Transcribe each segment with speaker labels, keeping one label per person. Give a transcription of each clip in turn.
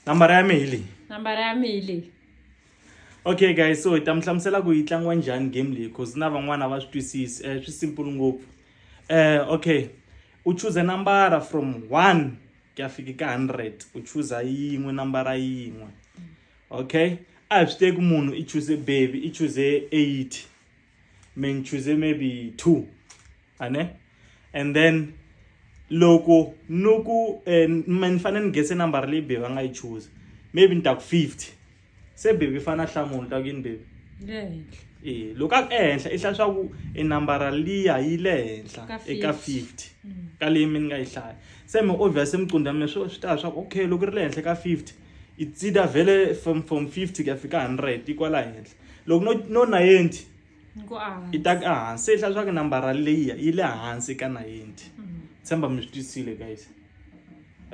Speaker 1: nambara ya mi hi leyi nambara
Speaker 2: ya mi hi
Speaker 1: leyi okay guys so hi ta mi hlamusela ku yi tlangiwa njhani game leyi cause na van'wana va swi twisisi um swi simple ngopfu um okay u chuze nambara from one ku ya fika ka hundred u chuza yin'we nambara yin'we okay a hi swi teki munhu i chuze baby i chuze eighty men choose maybe two ane and then loko no ku eh, ni fanele ni gese number leyi bebi a nga yi choose maybe ni ta ku fifty se bebi i fanele a hlamula ta ku yini bebi e loko a ku ehenhla i hlaya swa ku i nambara liya yi le henhla eka fifty mm. ka leyi mi ni nga yi hlaya se mi obvious emicundza mi swi ta swa ku okay loko ri le henhla ka fifty i tsida vhele from from fifty ku ya fika hundred yi kwala henhla loko no no nayenti i ta ka hansi se yi hlaswa ku nambara leyiya yi le hansi ka nayenti mm. tshemba mi swi twisile guys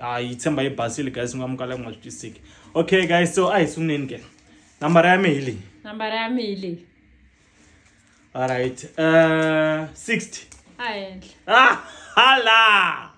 Speaker 1: a yi tshemba yi basile guys mi nga mukala ku nga swi twisiki okay guys so a hi sunguleni ke nambara ya mi hi leyi nambara ya mi hi leyi alright uh, 60 a henhla
Speaker 2: ah hala